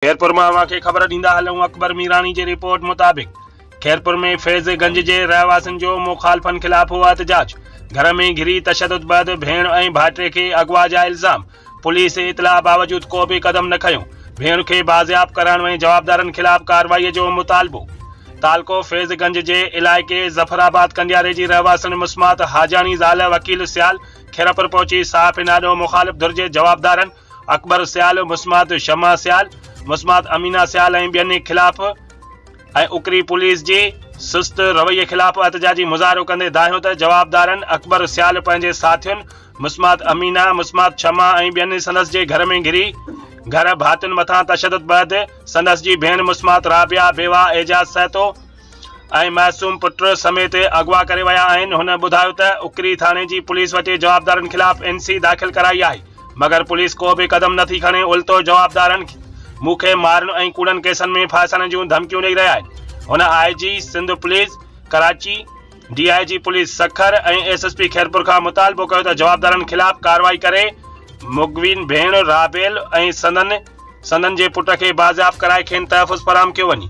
خيرپور مان اوهان کي خبر ڏيندا هلون اڪبر ميراڻي جي رپورٽ مطابق خيرپور ۾ فيض گنج جي رهواسين جو مخالفن خلاف هو احتجاج گهر ۾ گهري تشدد بعد ڀيڻ ۽ ڀائٽي کي اغوا جا الزام پوليس اطلاع باوجود ڪو به قدم نه کنيو ڀيڻ کي بازياب ڪرائڻ ۽ جوابدارن خلاف ڪارروائي جو مطالبو تعلقو فيض گنج جي علائقي ظفر آباد ڪنڊياري جي رهواسين مسمات حاجاڻي زال وڪيل سيال خيرپور پهچي صحافين آڏو مخالف ڌر جي جوابدارن اڪبر سيال، مسمات شمع سيال، مسمات امينه سيال ۽ ٻين خلاف ۽ اڪري پوليس جي سست رويي خلاف احتجاجي مظاهرو ڪندي دانهيو ته جوابدارن اڪبر سيال پنهنجي ساٿين مسمات امينه، مسمات شمع ۽ ٻين سندس جي گهر ۾ گهري گهر ڀاتين مٿان تشدد بعد سندس جي ڀيڻ مسمات رابعه، بيواهه اعجاز سهتو، ۽ معصوم پٽ سميت اغوا ڪري ويا آهن هن ٻڌايو ته اکري ٿاڻي جي پوليس وٽي جوابدارن خلاف اين سي داخل ڪرائي آهي مگر پوليس ڪو به قدم نٿي کڻي الٽو جوابدارن مون کي مارڻ ۽ ڪوڙن ڪيسن ۾ ڦاسائڻ جون ڌمڪيون ڏئي رهيا آهن هن I G Sindh police Karachi D I G police Sukkur ۽ S S P Khairpur کان مطالبو ڪيو ته جوابدارن خلاف ڪارروائي ڪري مغوين ڀيڻ رابيل ۽ سندن سندن جي پٽ کي بازياب ڪرائي کين تحفظ فراهم ڪيو وڃي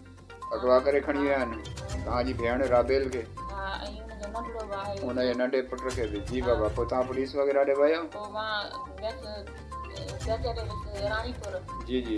اغوا ڪري کڻي ويا آهن توهان جي ڀيڻ رابيل کي ۽ ان جي ننڍي پٽ کي به جي بابا پوء توهان پوليس وغيره ڏي ويو جي جي